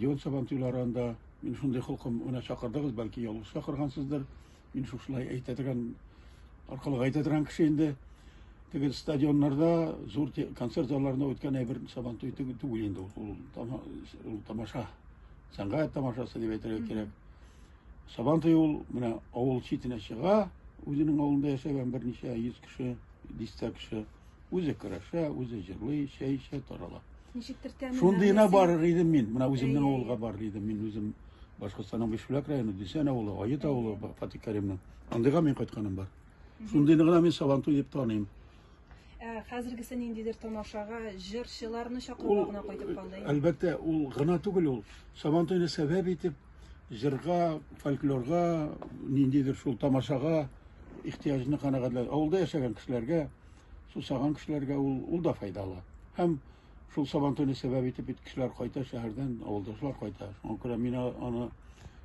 Ел Сабантуйларын да мин шундый холкым гына чакырдыгыз, бәлки ялгыш чакыргансыздыр. Мин шушылай әйтә торган, аркылы әйтә торган кеше инде. Теге стадионнарда, зур концерт залларында үткән әйбер Сабантуй түгел инде ул. Ул тамаша, сәнгать тамашасы дип әйтергә кирәк. Сабантуй ул менә авыл читенә чыга, үзенең авылында яшәгән берничә йөз кеше, дистә кеше. Үзе көрәшә, үзе җырлый, чәй эчә, тарала. Ничектер тәмен. Шундыйына барыр идем мин. Менә үземнең авылга барыр идем. Мин үзем Башкортстанның Бишбүләк районы, Десән авылы, Ает авылы, Фатик Кәримнең. Андыйга мин кайтканым бар. Шундыйны гына мин Сабантуй дип таныйм. Ә хәзергесе ниндидер тамашага җырчыларны чакыруга гына кайтып калды. Әлбәттә, ул гына түгел ул. Сабантуйны сәбәп итеп җырга, фольклорга, ниндидер шул тамашага ихтиҗны канәгатьләү. Авылда яшәгән кешеләргә сусаган кешеләргә ул, ул да файдалы. Һәм шул сабан төне сәбәп итеп бит кешеләр кайта шәһәрдән, авылдашлар кайта. Шуңа күрә мин аны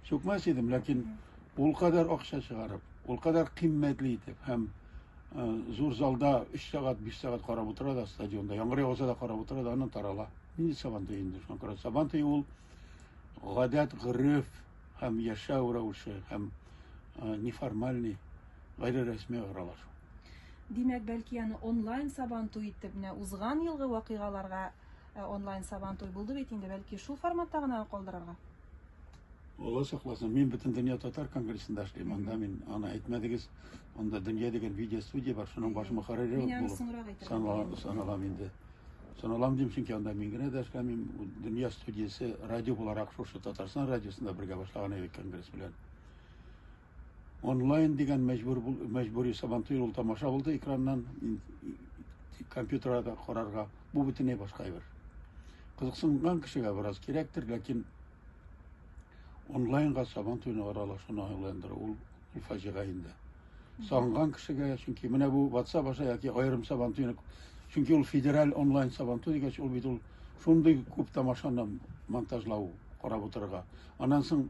сүкмәс идем, ләкин ул кадәр акча чыгарып, ул кадәр кыйммәтле итеп һәм зур залда 3 сәгать, 5 сәгать карап утыра да стадионда, яңгыр яуса да карап утыра да, аннан тарала. Нинди сабан төе инде? Шуңа күрә сабан төе ул гадәт, гореф һәм яшәү рәвеше һәм неформальный гайре рәсми аралашу. Димәк, бәлки аны онлайн сабантуй итеп, менә узган елгы вакыйгаларга э, онлайн сабантуй булды бит инде, бәлки шул форматта гына калдырырга? Алла сакласын, мин бөтен дөнья татар конгрессында эшлим, анда мин аны әйтмәдегез, анда дөнья дигән видео студия бар, шуның баш мөхәррире Мин аны соңрак әйтер саналам, саналам инде. Саналам дим, чөнки анда мин генә дә эшләмим, дөнья студиясе радио буларак шушы Татарстан радиосында бергә башлаган идек конгресс белән. Онлайн дигән мәҗбүр мәҗбүри сабантуй ул тамаша булды экраннан компьютерда карарга. Бу бөтенләй башка әйбер. Кызыксынган кешегә бераз кирәктер, ләкин онлайнга сабан туйны аралашуны аңландыру ул ул фаҗига инде. Сагынган кешегә, чөнки менә бу WhatsApp аша яки аерым сабан туйны, чөнки ул федераль онлайн сабан туй дигәч, ул бит ул шундый күп тамашаны монтажлау, карап утырырга. Аннан соң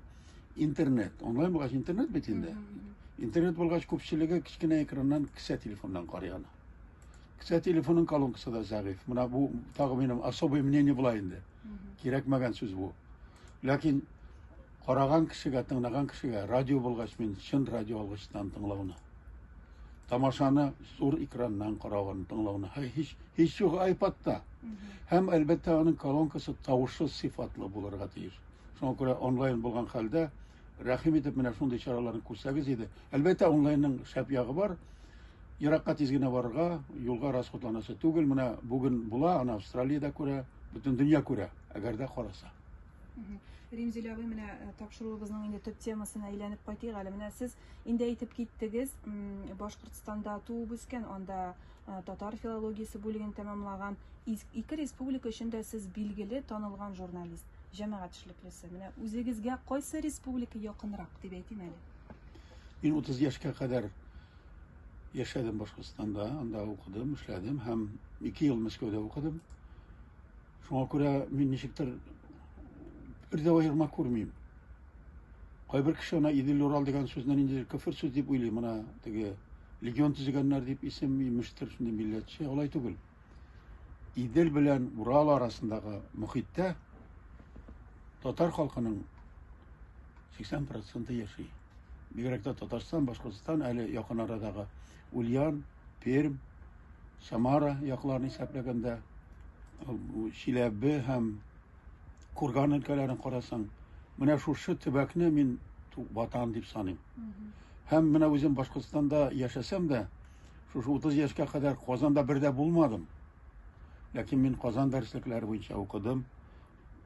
Интернет. Онлайн булгач интернет бит инде. Интернет булгач күпчелеге кечкенә экраннан кесә телефоннан карый аны. Кесә телефонын колонкасы да зәгыйфь. Менә бу тагы минем особое мнение була инде. Кирәкмәгән сүз бу. Ләкин караган кешегә, тыңлаган кешегә радио булгач мин чын радио алгычтан тыңлауны. Тамашаны зур экраннан каравын тыңлауны. Һәй һич һич юк айпадта. Һәм әлбәттә аның колонкасы тавышы сыйфатлы булырга тиеш. Шуңа күрә онлайн булган хәлдә, рәхим итеп, менә шундый чараларны күрсәгез иде. Әлбәттә, онлайнның шәп ягы бар. Еракка тиз генә барырга, юлга расходланасы түгел. Менә бүген була, ана Австралиядә күрә, бөтен дөнья күрә, әгәр дә караса. Римзилә абый, менә э, тапшыруыбызның инде төп темасына әйләнеп кайтыйк әле. Менә сез инде әйтеп киттегез, Башкортстанда туып үскән, анда э, татар филологиясе бүлеген тәмамлаган. Ике республика өчен дә сез билгеле, танылган журналист. җәмәгать эшлеклесе. Менә үзегезгә кайсы республика якынрак дип әйтим әле. Мин 30 яшькә кадәр яшәдем Башкортстанда, анда укыдым, эшләдем һәм 2 ел Мәскәүдә укыдым. Шуңа күрә мин ничектер бер дә аерма күрмим. Кайбер кеше ана Идел Урал дигән сүзне инде кефир сүз дип уйлый, мына теге легион төзегәннәр дип исем имештер, шундый милләтче, алай түгел. Идел белән Урал арасындагы мөхиттә татар халкының 80 проценты яши. Бигрәк тә Татарстан, Башкортстан, әле якын арадагы Ульян, Пермь, Самара якларын исәпләгәндә, Чиләбе һәм курган-элкәләрен карасаң, менә шушы төбәкне мин Ватан дип саныйм. Һәм менә үзем Башкортстанда яшәсәм дә, шушы 30 яшькә кадәр Казанда бер дә булмадым. Ләкин мин Казан дәреслекләре буенча укыдым.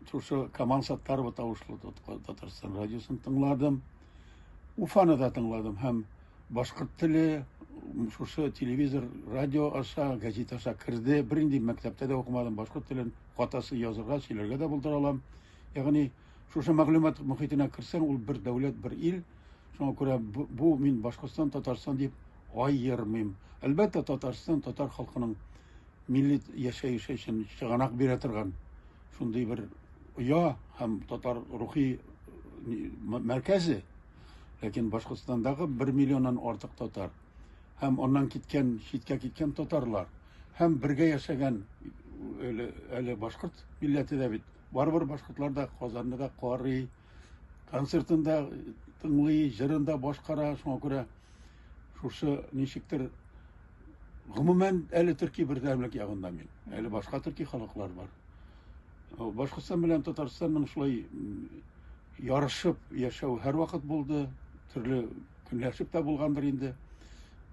Шушы Камал Саттарова тавышлы Татарстан радиосын тыңладым. Уфаны да тыңладым һәм башкорт теле шушы телевизор, радио аша, газета аша керде. Бернинди мәктәптә дә укымадым башкорт телен. катасы язырга, сөйләргә дә булдыра алам. Ягъни шушы мәгълүмат мөхитенә керсәң, ул бер дәүләт, бер ил. Шуңа күрә бу, бу мин Башкортстан, Татарстан дип аермыйм. Әлбәттә, Татарстан татар халкының милли яшәеше өчен чыганак бирә торган шундый бер оя һәм татар рухи мәркәзе. Ләкин Башкортстандагы бер миллионнан артык татар. һәм аннан киткән, читкә киткән татарлар, һәм бергә яшәгән әле, әле башкорт милләте дә бит. Барыбер башкортлар да Казанны да карый, концертын да тыңлый, җырын да башкара. Шуңа күрә шушы ничектер гомумән әле төрки бердәмлек ягында мин. Әле башка төрки халыклар бар. Башкортстан белән Татарстанның шулай Ярышып яшәү һәрвакыт булды, төрле көнләшеп тә булгандыр инде.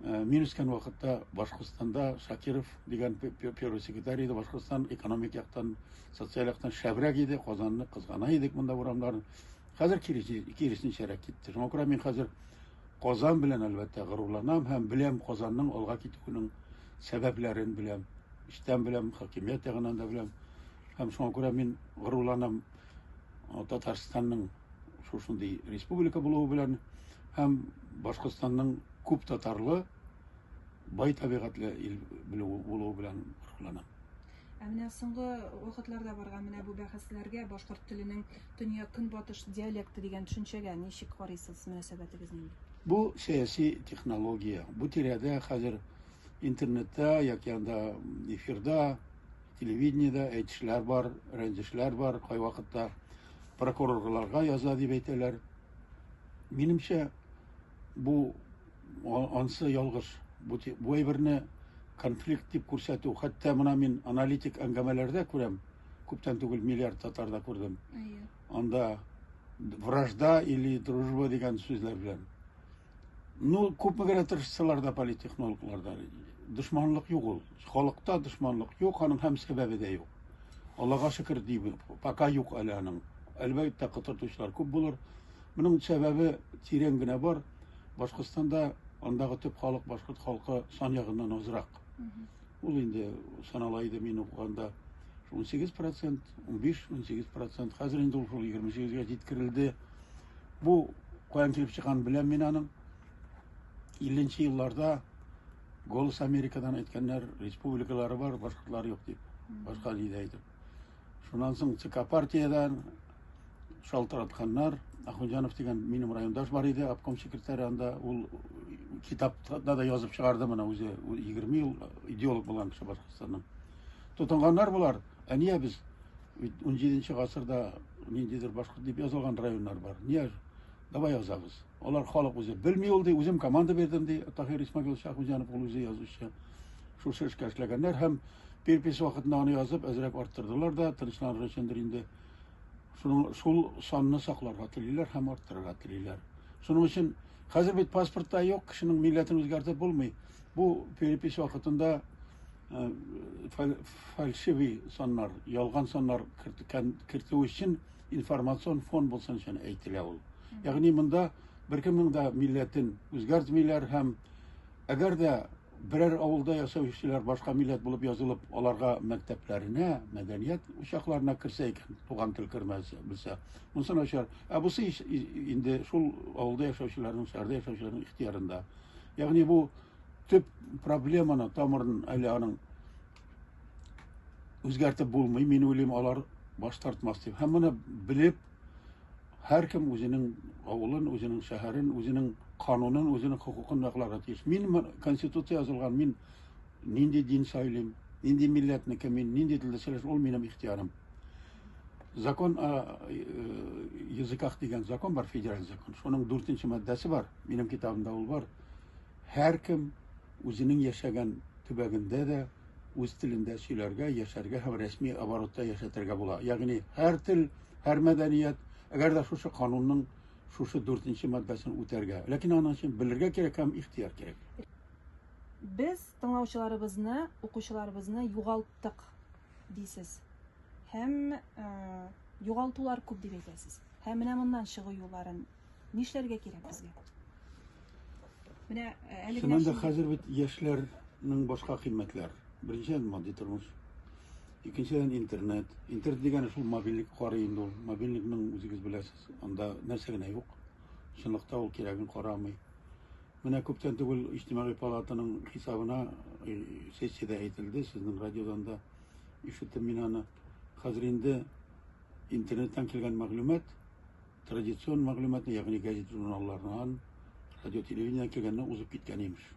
Э, мин үскән вакытта Башкортстанда Шакиров дигән первый секретарь иде. Башкортстан экономик яктан, социаль яктан шәбрәк иде. Казанны кызгана идек монда урамнар. Хәзер киресенчәрәк китте. Шуңа күрә мин хәзер Казан белән әлбәттә горурланам һәм беләм Казанның алга китүенең сәбәпләрен беләм. Эчтән беләм, хакимият ягынан да беләм. Һәм шуңа күрә мин горурланам. Татарстанның шушындый республика булуы белән һәм Башкортстанның күп татарлы бай табигатьле ил булуы белән горурланам. Ә менә соңгы вакытларда барган менә бу бәхәсләргә башкорт теленең төньяк көнбатыш диалекты дигән төшенчәгә ничек карыйсыз мөнәсәбәтегез нинди? Бу сәяси технология. Бу тирәдә хәзер интернетта яки анда эфирда Телевидениедә әйтешләр бар, рәнҗешләр бар, кайвакытта прокурорларга яза дип әйтәләр. Минемчә, бу ансы ялгыш. Бу, бу әйберне конфликт дип күрсәтү, хәтта менә мин аналитик әңгәмәләрдә күрәм, күптән түгел миллиард татарда күрдем. Анда вражда или дружба дигән сүзләр белән. Ну, күпме генә тырышсалар да политтехнологлар да дошманлык юк ул. Халыкта дошманлык юк, аның һәм сәбәбе дә юк. Аллага шөкер дибез. Пока юк әле аның. Әлбәттә, кытыртучылар күп булыр. Моның сәбәбе тирән генә бар. Башкортстанда андагы төп халык башкорт халкы сан ягыннан азрак. Ул инде санала иде мин укыганда 18%, 15-18%, хәзер инде ул 28-гә җиткерелде. Бу каян килеп чыкканын беләм мин аның. 50 нче елларда Голос Америкадан әйткәннәр, республикалары бар, башкортлар юк дип. Башка җирдә әйтеп. Шуннан соң ЦК партиядән шалтыратканнар. Ахунҗанов дигән минем райондаш бар иде, обком секретаре анда. Ул китапта да язып чыгарды моны үзе. Ул 20 ел идеолог булган кеше Башкортстанның. Тотынганнар болар. Ә нигә без бит унҗиденче гасырда ниндидер башкорт дип язылган районнар бар. Нигә? Давай язабыз. Алар халык үзе белми ул ди, үзем команда бирдем ди. Тахир Исмагил Шахуҗанов ул үзе язучы. Шушы эшкә эшләгәннәр һәм перепись вакытында аны язып әзрәк арттырдылар да, тынычланыр өчендер инде. Шуның шул санны сакларга телиләр һәм арттырырга телиләр. Шуның өчен хәзер бит паспортта юк, кешенең милләтен үзгәртеп булмый. Бу перепись вакытында э, фальшивый саннар, ялган саннар кертү өчен информацион фон булсын өчен әйтелә ул. Ягъни монда беркемнең дә милләтен үзгәртмиләр һәм әгәр дә берәр авылда яшәүчеләр башка милләт булып язылып, аларга мәктәпләренә, мәдәният учакларына керсә икән, туган тел кермәсә, белсә, монысы начар. Ә бусы инде шул авылда яшәүчеләрнең, шәһәрдә яшәүчеләрнең ихтыярында. Ягъни бу төп проблеманы тамырын әле аның үзгәртеп булмый мин уйлыйм алар баш тартмас дип һәм моны белеп һәркем үзенең авылын үзенең шәһәрен үзенең канунын үзенең хокукын якларга тиеш мин конституция язылган мин нинди дин сайлыйм нинди милләтнеке мин нинди телдә сөйләшә ул минем ихтиярым закон о э, языках дигән закон бар федераль закон шуның дүртенче маддәсе бар минем китабымда ул бар һәркем үзенең яшәгән төбәгендә дә үз телендә сөйләргә, яшәргә һәм рәсми оборотта яшәтергә була. Ягъни һәр тел, һәр мәдәният, әгәр дә шушы канунның шушы дүртенче маддасын үтәргә. Ләкин аның өчен белергә кирәк һәм ихтыяр кирәк. Без тыңлаучыларыбызны, укучыларыбызны югалттык, дисез. Һәм югалтулар күп дип әйтәсез. Һәм менә моннан чыгу юлларын Нишләргә кирәк безгә? Менә э, әлеге Чыннан да хәзер бит яшьләрнең башка кыйммәтләр. Беренчедән матди тормыш, икенчедән интернет. Интернет дигәне шул мобильник карый инде ул. Мобильникның үзегез беләсез, анда нәрсә генә юк. Чынлыкта ул кирәген карамый. Менә күптән түгел иҗтимагый палатаның хисабына э, сессиядә әйтелде, сезнең радиодан да ишеттем мин аны. Хәзер инде интернеттан килгән мәгълүмат Традицион мәгълүматны, ягъни газета-журналлардан, радио-телевидениедән килгәнне узып киткән, имеш.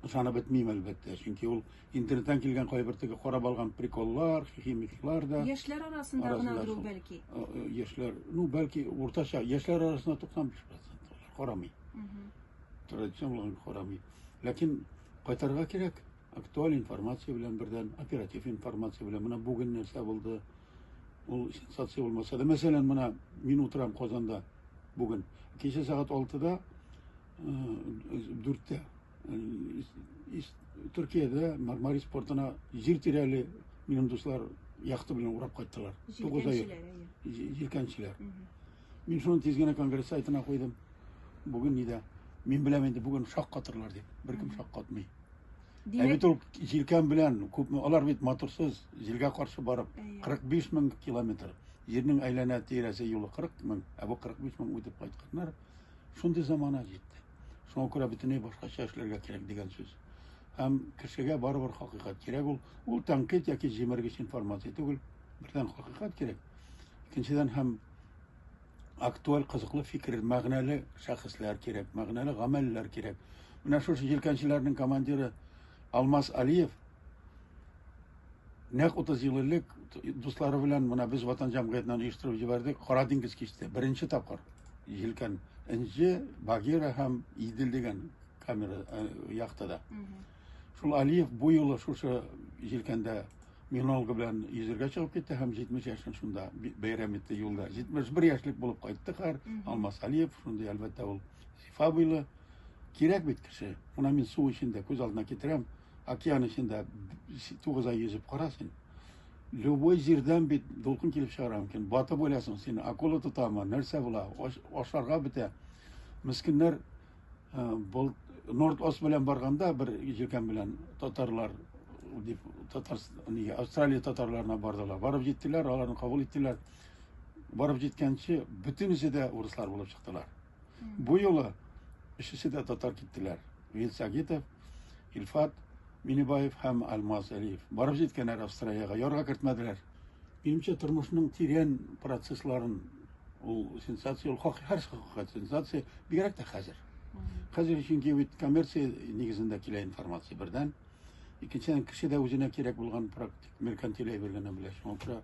Ышанып бетмим, әлбәттә, чөнки ул интернеттан килгән кайбер теге карап алган приколлар, хихи-михилар да. Яшьләр арасында Арасында гынадыр ул шул. бәлки. Э, э, Яшьләр, ну, бәлки, уртача, яшьләр арасында 95% алар карамый. Традицион булган карамый. Ләкин кайтарга кирәк. Актуаль информация белән бердән, оператив информация белән. Менә бүген нәрсә булды? Ул сенсация булмаса да, мәсәлән, менә мин утырам Казанда бүген. Кичә сәгать 6-да, 4-тә Төркиядә Мармарис портына җир тирәли минем дуслар яхта белән урап кайттылар. 9 ай. Җилкәнчеләр. Мин шуны тиз генә конгресс сайтына куйдым. Бүген нидә? Мин беләм инде бүген шаккатырлар дип. Беркем шаккатмый. Ә бит ул җилкән белән күпме алар бит моторсыз җилгә каршы барып 45 мең километр җирнең әйләнә тирәсе юлы 40 мең, ә бу 45 мең үтеп кайтканнар. Шундый замана җитте. Шуңа күрә бөтенләй башкача эшләргә кирәк дигән сүз. Һәм кешегә барыбер хакыйкат кирәк ул. Ул тәнкыйть яки җимергеч информация түгел. Бердән хакыйкат кирәк. Икенчедән һәм актуаль, кызыклы фикер, мәгънәле шәхесләр кирәк, мәгънәле гамәлләр кирәк. Менә шушы җилкәнчеләрнең командиры Алмаз Алиев нәкъ 30 ел элек дуслары белән менә без Ватан җәмгыятеннән оештырып җибәрдек Кара диңгез кичте. Беренче тапкыр җилкән Энҗе, Багира һәм Идел дигән камера э, яхтада. Шул Алиев бу юлы шушы җилкәндә минолга белән йөзергә чыгып китте һәм 70 яшен шунда бәйрәм итте юлда. 71 яшьлек булып кайтты хәр Алмас Алиев, шундый әлбәттә ул сифа буйлы. Кирәк бит кеше. Менә мин су эчендә күз алдына китерәм, океан эчендә 9 ай йөзеп кара син. Любой җирдән бит дулкын килеп чыгара мөмкин. Батып үләсең син, акула тотамы, нәрсә була, ашарга бетә. Мескеннәр Норд Ост белән барганда бер җилкәм белән татарлар дип татар нигә Австралия татарларына бардылар. Барып җиттеләр, аларны кабул иттеләр. Барып җиткәнче бөтенесе дә урыслар булып чыктылар. Бу юлы өчесе дә татар киттеләр. Вил Сагитов, Илфат Минибаев һәм Алмаз Әлиев. Барып җиткәннәр Австралиягә, ярга кертмәделәр. Минемчә, тормышның тирән процессларын ул сенсация, ул хак, һәр хакыйкать сенсация, бигрәк тә хәзер. Хәзер чөнки бит коммерция нигезендә килә информация бердән. Икенчедән, кеше дә үзенә кирәк булган практик меркантиль әйбергә белә. Шуңа күрә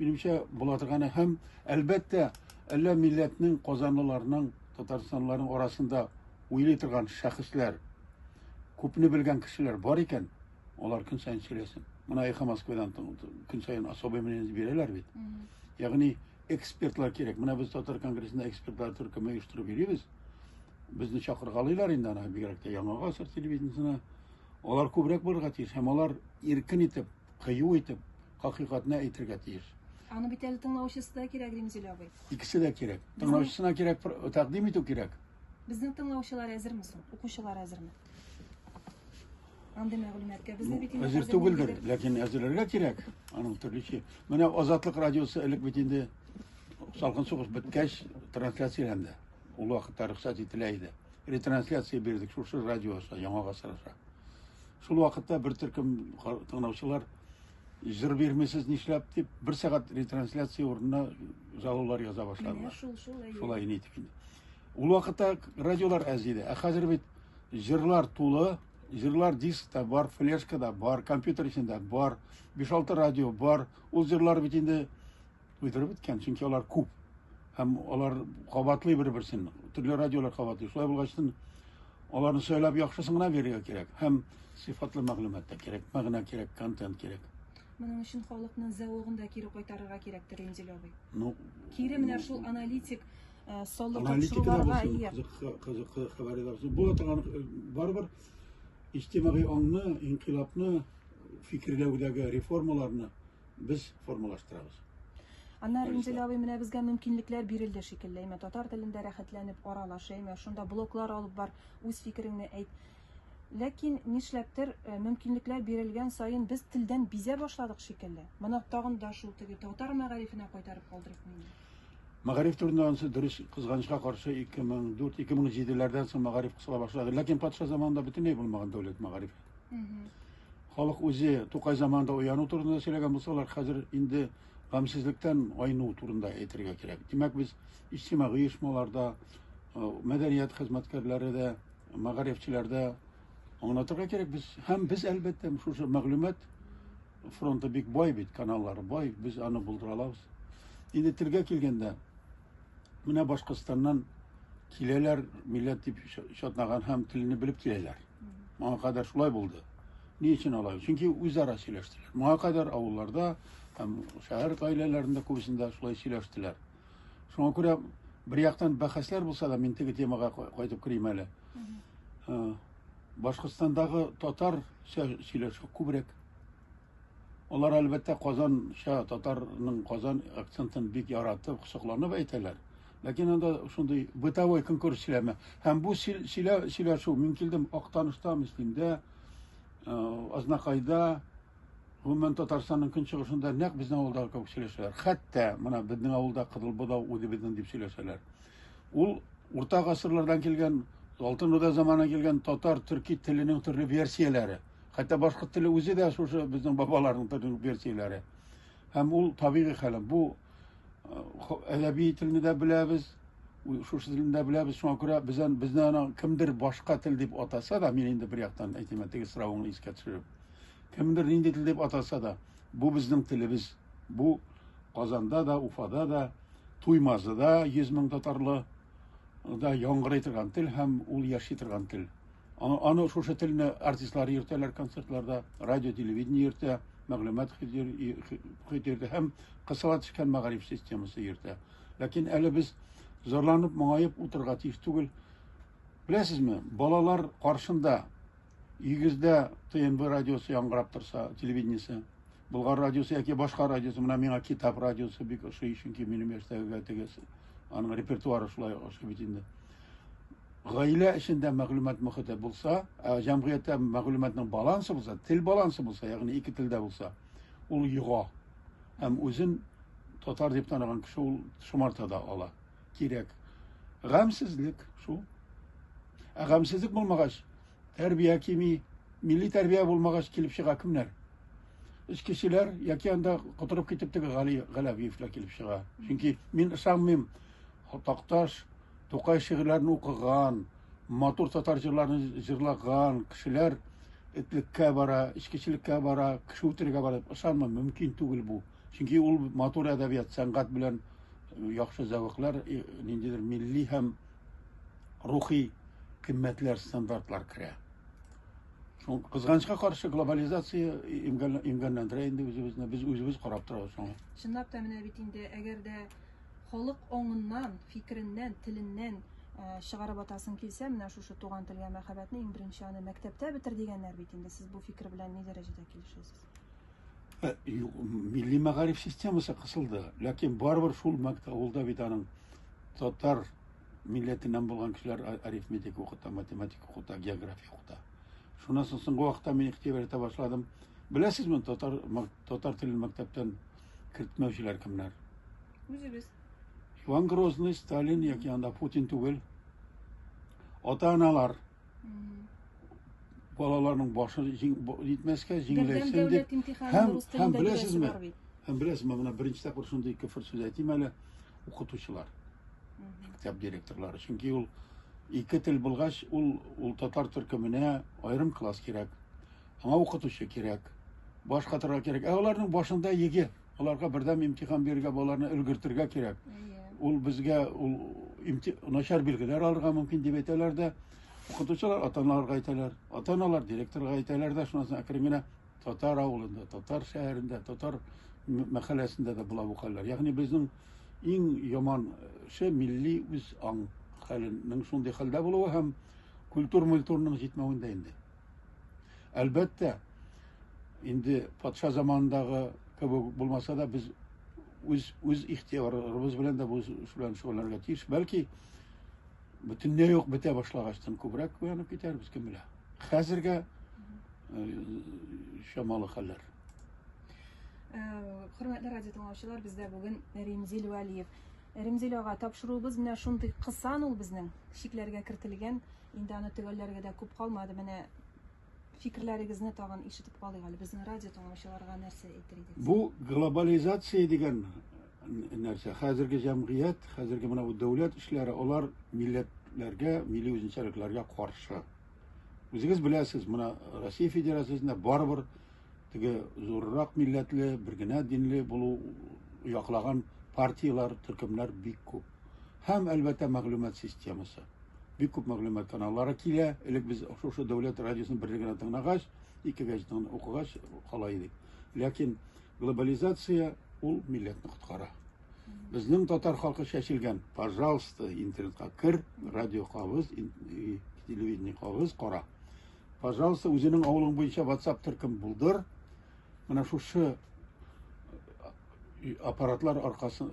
минемчә була торганы һәм әлбәттә әллә милләтнең казанлыларның татарстанлыларның арасында уйлый торган шәхесләр күпне белгән кешеләр бар икән, Алар көн сайын сөйләсен. Моны Эхо Москвадан көн сайын особый мнение бирәләр бит. Ягъни экспертлар кирәк. Менә без татар конгрессында экспертлар төркеме оештырып йөрибез. Безне чакыргалыйлар инде аны бигрәк тә Яңа гасыр телевидениесенә. Алар күбрәк булырга тиеш һәм алар иркен итеп, кыю итеп хакыйкатны әйтергә тиеш. Аны бит әле тыңлаучысы да кирәк, Римзилә абый. Икесе дә кирәк. Тыңлаучысына кирәк, тәкъдим итү кирәк. Безнең тыңлаучылар әзерме соң? Укучылар әзерме? Андый мәгълүматка без дә бит инде әзер түгелдер, ләкин әзерләргә кирәк. Аның төрлечә. Менә Азатлык радиосы элек бит инде салкын сугыш беткәч трансляцияләнде. Ул вакытта рөхсәт ителә иде. Ретрансляция бирдек шушы радио аша, Яңа гасыр аша. Шул вакытта бер төркем тыңлаучылар җыр бирмисез нишләп дип бер сәгать ретрансляция урынына жалобалар яза башлады. Шулай нитеп инде. Ул вакытта радиолар әз иде, ә хәзер бит җырлар тулы, җырлар дискта бар, флешкада бар, компьютер эчендә бар, 5-6 радио бар. Ул җырлар бит инде уйдырып беткән, чөнки алар күп. Һәм алар кабатлый бер-берсен, төрле радиолар кабатлый. Шулай булгач, аларны сайлап яхшысын гына бирергә кирәк. Һәм сыйфатлы мәгълүмат та кирәк, мәгънә кирәк, контент кирәк. Моның өчен халыкның зәвыгын да кире кайтарырга кирәктер, Инзил абый. Ну, кире менә шул аналитик Э, солы тапшыруларга ия. Кызыклы хәбәрләр. Бу атаган э, барыбер иҗтимагый аңны, инкыйлабны, фикерләүдәге реформаларны без формалаштырабыз. Анна Ринзел абый менә безгә мөмкинлекләр бирелде шикелле. Әмма татар телендә рәхәтләнеп аралаш, әмма шунда блоклар алып бар, үз фикереңне әйт. Ләкин нишләптер э, мөмкинлекләр бирелгән саен без телдән бизә башладык шикелле. Моны тагын да шул теге татар мәгарифенә кайтарып калдырып мин. Мәгариф турында анысы дөрес, кызганычка каршы 2004-2007 ләрдән соң мәгариф кысыла башлады. Ләкин патша заманында бөтенләй булмаган дәүләт мәгариф. Халык үзе Тукай заманында уяну турында сөйләгән булсалар, хәзер инде гамьсезлектән айну турында әйтергә кирәк. Димәк, без иҗтимагый оешмаларда, э, мәдәният хезмәткәрләре дә, мәгарифчеләр дә аңлатырга кирәк. Без һәм без әлбәттә шушы мәгълүмат Фронты бик бай бит, каналлары бай, без аны булдыра алабыз. Инде телгә килгәндә, менә Башкортстаннан киләләр, милләт дип шатнаган һәм телне белеп киләләр. Моңа кадәр шулай булды. Ни өчен алай? Чөнки үзара сөйләштеләр. Моңа кадәр авылларда һәм шәһәр гаиләләрендә күбесендә шулай сөйләштеләр. Шуңа күрә бер яктан бәхәсләр булса да, мин теге темага кайтып керим әле. Башкортстандагы татар сөйләшү күбрәк. Алар әлбәттә Казанча татарның Казан акцентын бик яратып, кысыкланып әйтәләр. Ләкин анда шундый бытовой конкурс сөйләме. Һәм бу сөйләшү мин килдем Актаныштан, Мөслимдә, Азнакайда, Гомумән, Татарстанның көнчыгышында нәкъ безнең авылдагы кебек сөйләшәләр. Хәтта менә безнең авылда Кызыл Бодау үзебезнең дип сөйләшәләр. Ул урта гасырлардан килгән, Алтын Урда заманынан килгән татар-төрки теленең төрле версияләре. Хәтта башкорт теле үзе дә шушы безнең бабаларның төрле версияләре. Һәм ул табигый хәл. Бу әдәби телне дә беләбез, шушы телне дә беләбез. Шуңа күрә бездән безне кемдер башка тел дип атаса да, мин инде бер яктан әйтим, теге соравыңны искә төшереп. Кемдер нинди тел дип атаса да, бу безнең телебез. Бу Казанда да, Уфада да, Туймазыда 100 мең татарлы да яңгырый торган тел һәм ул яши торган тел. Аны, аны шушы телне артистлар йөртәләр концертларда, радио, телевидение йөртә, мәгълүмат хитирде һәм кысыла төшкән мәгариф системасы йөртә. Ләкин әле без зарланып, моңаеп утырырга тиеш түгел. Беләсезме, балалар каршында Игездә ТНБ радиосы яңгырап торса, телевидениесе, Болгар радиосы яки башка радиосы, менә миңа китап радиосы бик ошый, чөнки минем яшьтәгегә тегесе. Аның репертуары шулай ошый бит инде. Гаилә эчендә мәгълүмат мөхите булса, ә җәмгыятьтә мәгълүматның балансы булса, тел балансы булса, ягъни ике телдә булса, ул йога. Һәм үзен татар дип таныган кеше ул шомарта да ала. кирәк. Гамьсезлек шул. Ә гамьсезлек булмагач, тәрбия кими, милли тәрбия булмагач килеп чыга кемнәр? Эчкечеләр яки анда котырып китеп теге Гали Галәвиевләр килеп чыга. Чөнки мин ышанмыйм, Такташ, Тукай шигырьләрен укыган, матур татар җырларын җырлаган кешеләр этлеккә бара, эчкечелеккә бара, кеше үтерергә бара дип ышанмыйм, мөмкин түгел бу. Чөнки ул матур әдәбият, сәнгать белән яхшы зәвыклар, ниндидер милли һәм рухи кыйммәтләр, стандартлар керә. Шул кызганычка каршы глобализация имгәнләндерә инде үзебезне, без үзебез карап торабыз шуңа. Чынлап та менә бит инде, әгәр дә халык аңыннан, фикереннән, теленнән Э, чыгарып атасың килсә, менә шушы туган телгә мәхәббәтне иң беренче аны мәктәптә бетер дигәннәр бит инде. Сез бу фикер белән ни дәрәҗәдә килешәсез? Ә, юк, милли мәгариф системасы кысылды, ләкин барыбер шул мәктәп авылда бит аның татар милләтеннән булган кешеләр а- арифметика укыта, математика укыта, география укыта. Шуннан соң соңгы вакытта мин игътибар итә башладым. Беләсезме, татар мәк- татар телен мәктәптән кертмәүчеләр кемнәр? Үзебез. Иван Грозный, Сталин яки анда Путин түгел. Ата-аналар Балаларның башы җитмәскә, җиңеләйсен дип. Һәм, һәм беләсезме, һәм беләсезме, менә беренче тапкыр шундый кефер сүз әйтим әле, укытучылар, мәктәп директорлары. Чөнки ул ике тел булгач, ул, ул татар төркеменә аерым класс кирәк, аңа укытучы кирәк, баш катырга кирәк. Ә аларның башында еге. Аларга бердәм имтихан бирергә, балаларны өлгертергә кирәк. Ул безгә ул начар билгеләр алырга мөмкин дип әйтәләр дә. Укытучылар ата-аналарга әйтәләр. Ата-аналар директорга әйтәләр дә, шуннан соң әкрен генә татар авылында, татар шәһәрендә, татар мәхәлләсендә дә була бу хәлләр. Ягъни безнең иң яман ше милли үз аң хәленең шундый хәлдә булуы һәм культур-мультурның җитмәвендә инде. Әлбәттә, инде патша заманындагы кебек булмаса да, без үз үз ихтиярыбыз белән дә бу белән шөгыльләнергә тиеш. Бәлки бөтенләй юк бетә башлагачтан күбрәк уянып китәрбез, кем белә. Хәзергә э, чамалы хәлләр. Э, хөрмәтле радио тыңлаучылар, бездә бүген Римзил Вәлиев. Римзил ага тапшыруыбыз менә шундый кысан ул безнең, шикләргә кертелгән. Инде аны төгәлләргә дә күп калмады. Менә фикерләрегезне тагын ишетеп калыйк әле. Безнең радио тыңлаучыларга нәрсә әйтер идегез? Бу глобализация дигән нәрсә. Хәзерге җәмгыять, хәзерге менә бу дәүләт эшләре, алар милләтләргә, милли үзенчәлекләргә каршы. Үзегез беләсез, менә Россия Федерациясендә барыбер теге зуррак милләтле, бер генә динле булу яклаган партияләр, төркемнәр бик күп. Һәм, әлбәттә, мәгълүмат системасы. бик күп мәгълүмат каналлары килә. Элек без шушы дәүләт радиосын бер генә тыңлагач, ике газетаны укыгач кала идек. Ләкин глобализация ул милләтне коткара. Безнең татар халкы чәчелгән. Пожалуйста, интернетка кер, радио кабыз, телевидение кабыз, кара. Пожалуйста, үзенең авылың буенча WhatsApp төркем булдыр. Менә шушы аппаратлар аркасы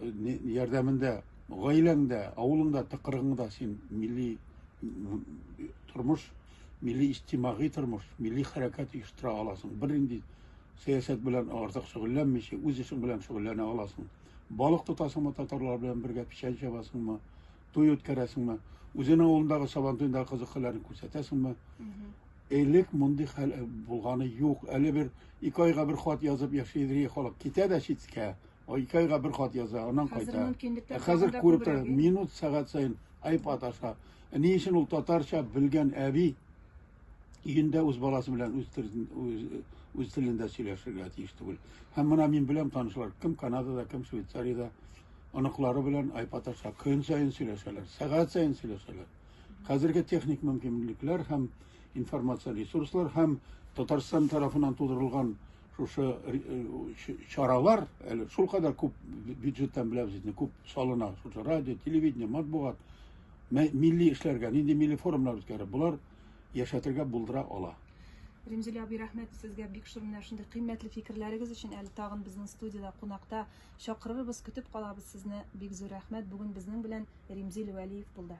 ярдәмендә гаиләңдә, авылыңда, тыкрыгыңда син милли тормыш, милли иҗтимагый тормыш, милли хәрәкәт оештыра аласың. Бернинди сәясәт белән артык шөгыльләнмичә, үз эшең белән шөгыльләнә аласың. Балык тотасыңмы татарлар белән бергә, печән чабасыңмы, туй үткәрәсеңме, үзенең авылындагы Сабантуйдагы кызык хәлләрен күрсәтәсеңме? Элек мондый хәл э, булганы юк. Әле бер ике айга бер хат язып яши иде халык. Китә дә читкә. Ике айга бер хат яза, аннан кайта. Ә хәзер күреп тора, минут сәгать сайын айпад аша. Э, ни өчен ул татарча белгән әби өендә үз баласы белән үз үз телендә сөйләшергә тиеш түгел. Һәм менә мин беләм танышлар, кем Канадада, кем Швейцариядә, Оныклары белән айпаташа көн саен сөйләшәләр, сәгать саен сөйләшәләр. Хәзерге техник мөмкинлекләр һәм информация ресурслар һәм Татарстан тарафынан тудырылган шушы чаралар әле шул кадәр күп бюджеттан беләбез инде күп салына шушы радио телевидение матбугат милли эшләргә нинди милли форумнар үткәрә болар яшәтергә булдыра ала Римзилә абый, рәхмәт сезгә бик шундый шундый кыйммәтле фикерләрегез өчен. Әле тагын безнең студиядә кунакта Чакырырбыз, көтеп калабыз сезне, бик зур рәхмәт, бүген безнең белән Римзил Вәлиев булды.